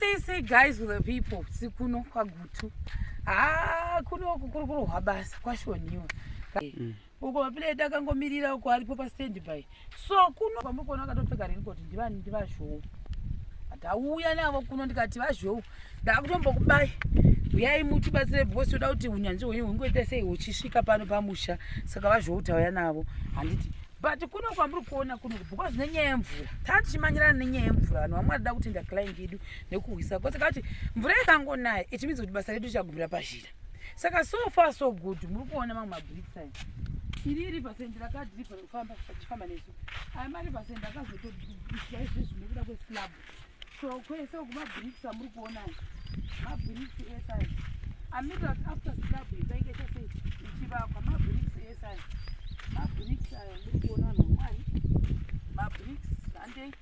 they say guys with the people sikuno kwagutu haa kuno uku kuri kurohwa basa kwashoniwa mm. uko mapile edu akangomirira uko aripo pastand by so kuno kwamuri kuona akatopfeka rini koti ndivani ndivazhou ndauya navo kuno ndikati vazhou ndakutombokubai uyai mutibatsire because toda kuti unyanzvi hwenyu hungoita sei huchisvika pano pamusha saka vazhou tauya navo handiti but kuno kwamuri kuona kuno because nenyaya yemvura taa tichimanyirana nenyaya yemvura vanhu vamwe vanoda kutenda client yedu nekuhwisa kose ka kuti mvura ikangonaya it means kuti basa redu richagumira pazhira saka so far so good muri kuona mamwe mabricsin iri iri pasendi rakadripa rekufamba achifamba nesu aya mari pasendi akazotoiswa izvezvi nekuda kweslabu so kwese uku mabricks amuri kuona mabricks ese aya amirira kuti after slab ipainge chese ichivakwa mabricks ese aya mabricks aya muri kuona vanhu vamwari mabricks handei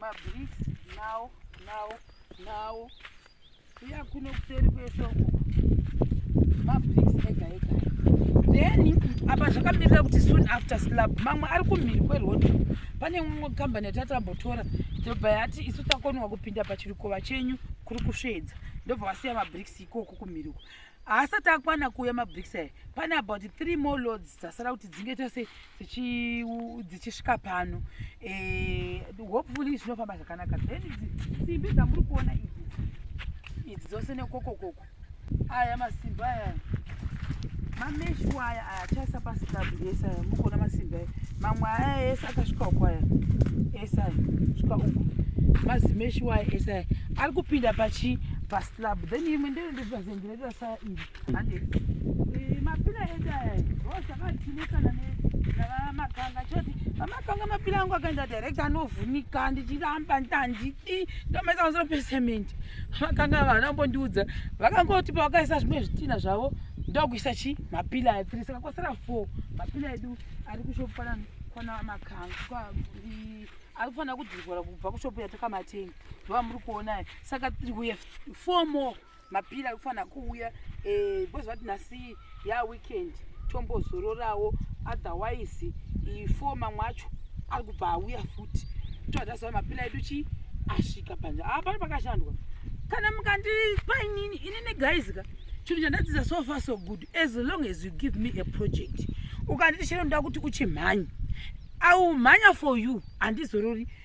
mabricks nawo nawo nawo uya kuno kuseri kweshoko mabricks ega ega then apa zvakamirira kuti soon after slab mamwe ari kumhiri kweroad pane mumwe kambani yatatambotora ndobva yati isu takonwa kupinda pachirikova chenyu kuri kusvedza ndobva vasiya mabricks ikoko kumhiri uko haasati akwana kuuya mabricks aya pane about three more loads dzasara kuti dzinge tose dzichisvika pano eh, hopefully zvinofamba zvakanaka then simbi dzamuri kuona idzi idzi dzose nekokokoko aya masimbi aya mameshu aya aya achaisa paslab ese aya mukuona masimbi aya mamwe aya ese akasvika uku aya ese aya svika uku mazimeshu aya ese aya ari kupinda pachi paslab then imwe ndeyonde Zvazengerera saa iri. Hande. Eh, mapira edu aya. Oh, zvakatinetsana ne makanga choti pamakanga mapira angu akaenda direct anovhunika ndichiramba ndandidi ndomaisa pamusoro pecement makanga vana mbondiudza vakangoti pavakaisa zvimwe zvitina zvavo ndokuisa chi mapila aya three saka kwasara four mapila edu ari kushopu kwana kwana makanga ari kufanira kudzivora kubva kushopu yatakamateni ndovamuri kuonai saka tiri kuye four more mapira ekufanira kuuya eh, because vati nhasi ya weekend tombozororawo otherwise four mamwe acho ari kubva auya futi toatasa mapira edu chii asvika panja aa ah, pano pakashandwa kana mukandipa inini inini guys ka chinhu chandadzidza so far so good as long as you give me a project ukanditi chero ndoda kuti uchimhanya aumhanya for you handizorori ah,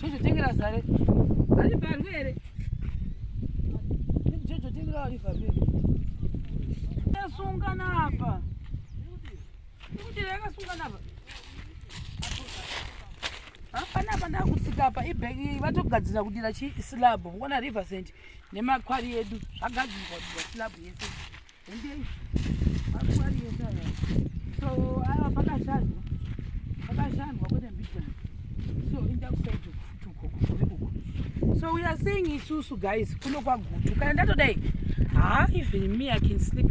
Jojo tengera zare. Ari parwe here? Jojo tengera ari parwe. Yasungana apa. Kuti yakasungana apa. Hapana apa ndakutsika apa ibhegi vatogadzira kudira chi slab. Ngona river sand nemakwari edu zvagadzirwa kudira slab yese. so we are saying isusu guys kuno kwagutu kana ndatodai ha even me i can sleep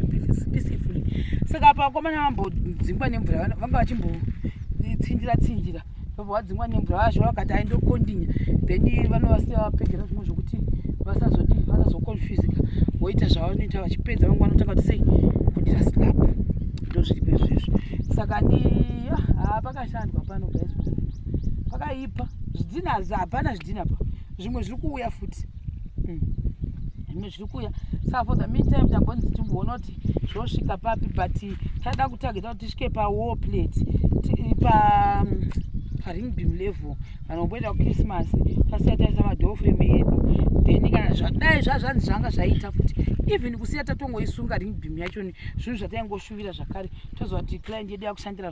peacefully saka pakomana vambodzingwa nemvura vanga vachimbotsinjira tsinjira vabva vadzingwa nemvura vazvo vakati aindokondinya then vanovasiya vapedzera zvimwe zvokuti vasazodii vasazokonfusika voita zvavanoita vachipedza vamwe vanotanga kuti sei kudira slap ndozviri pezvezvo saka ni haa pakashandwa pano guys pakaipa zvidhina hapana zvidhina pa zvimwe zviri kuuya futi mm. zvimwe zviri kuuya saka for the meantime tambonzi timboona kuti zvosvika papi but taida kutageta kuti tisvike pawar plate pa mm, paring beam level kana kumboita kuchristmas tasiya taisa madofrem edu then kana zvadai zvazvanzi zvanga zvaita futi even kusiya tatongoisunga ring beam yachoni zvinhu zvataingoshuvira zvakare toziva kuti client yedu yakushandira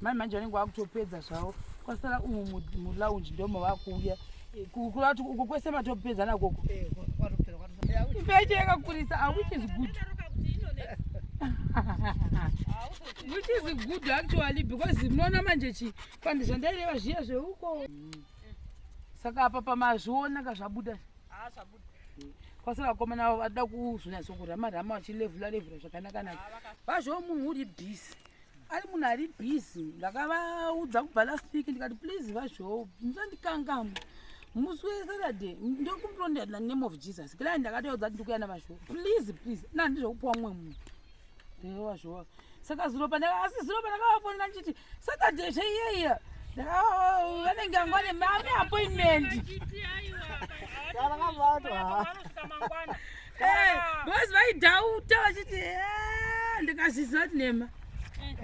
mai manje vanenge vakutopedza zvavo kwasara umu mulaunji ndomo vakuuya kukura kuti uko kwese matopedza nakoko ipeche yakakurisa awich is good which is good actually because munoona manje chi kandi zvandaireva zviya zveuko saka apa pamazviona ka zvabuda kwasara vakomana vavo vada kuzvinyatsokura marama vachilevhula levhula zvakanakanaka vazvoo munhu uri busy ari munhu ari busy ndakavaudza kubva last week ndikati please vazvoo musandikangamu musi wesaturday ndokumurondana name of jesus kila ndakatoudza kuti ndikuya navazvoo please please nandizvokupiwa mumwe munhu ndevazvoo saka zuro pandaka asi zuro pandakavafonera ndichiti saturday zveiyeya vanenge anga vane mame appointment boys vaidhauta vachiti eh, ndikazviziva kuti nema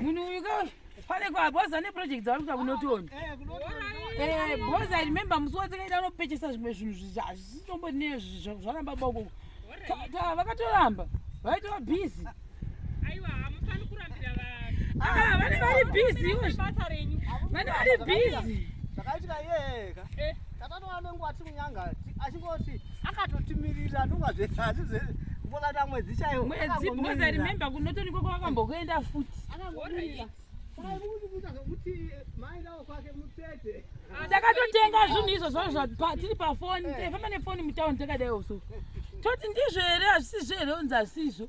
munhu uyu ka pane kwa boys ane project dzavari kuita kunotoni boys i remember musi watakaita unopechesa zvimwe zvinhu zvizvazvisitombo nezvizvo zvaramba boko vakatoramba vaitova busy Aiwa hamufani kurambira vanhu. Ah, vane vari busy ivo. Basa renyu. Vane vari busy. Zvakaitika iye ka. Eh. Tatatowa nenguva timunyanga achingoti akatotimirira ndova zvese asi zvese kumbokata mwedzi chaiwo. Mwedzi because I remember kunotoniko kwakambokuenda futi. Akamirira. takatotenga zvinhu izvo zvavo tiri pafoni eh. famba nefoni mutauni takadai usu toti ndizvo here hazvisizvo here unzi hazvisizvo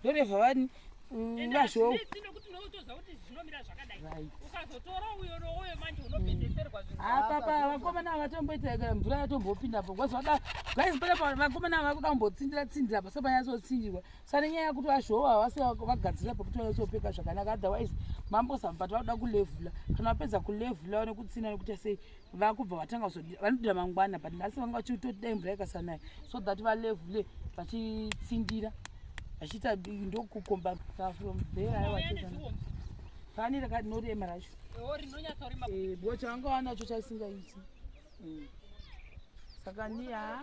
ndoreva vani vazvou apapa vakomana vatomboita kana mvura yatombopindapo kwazvada guys panapa vakomana ava vakuda kumbotsindira tsindira paso panyatsotsindira sane nyaya yakuti vazvoo havasi vagadzira pakuti vanyatsopfeka zvakanaka otherwise mambosamubata vakuda kulevhula kana vapedza kulevhula vanekutsinda nekuita sei vakubva vatanga kuzodira vanodira mangwana but nhasi vanga vachitoti dai mvura ikasanaya so that valevule vachitsindira vachiita ndokukomba from there aiwa pani rakanorema racho eh, bo changa wanacho chaisingaiti mm. saka niya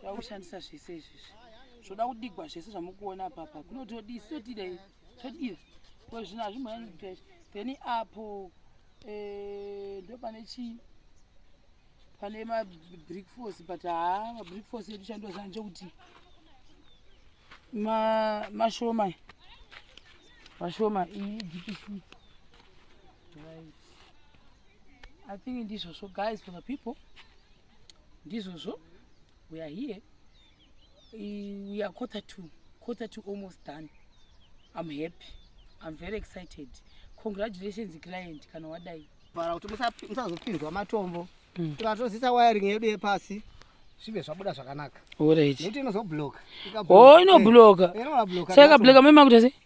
tava kushandisa zvese izvizvi zvoda kudigwa zvese zvamukuona papa kuno todii sitotidei todii ko zvino hazvimboyani then apo eh, ndo pane chii pane mabrick force but haa mabrick force edu chandozana nchokuti mashoma mashoma iyi idpc right i think ndizvozvo guys for the people ndizvozvo we are here we are quarter to quarter to almost done i'm happy i'm very excited congratulations client kana wadai vara kuti musazopinzwa matombo mm. tikatozisa wiring yedu yepasi zvive zvabuda zvakanaka nekuti inozobloka oh inobloka saka ikabloka mema kuti asi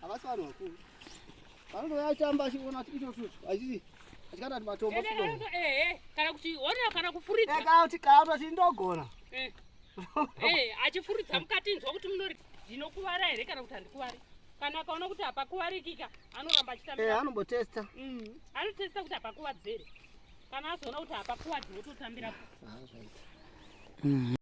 Havasi vanhu vakuru. Vanotouya achitamba achiona kuti icho tutu hazvisi achikata kuti matombo chido. Eh, kana kuti ona kana kufuridza. Eh, kana kuti kana kuti ndogona. Eh. Eh, achifuridza mukati nzwa kuti munori ndinokuvara here kana kuti handikuvare. Kana akaona kuti hapakuvarikika anoramba achitamba. Eh, anombotesta. Mm. Anotesta kuti hapakuvadzere. Kana azoona kuti hapakuvadzi wototambira. Ah, right. Mm.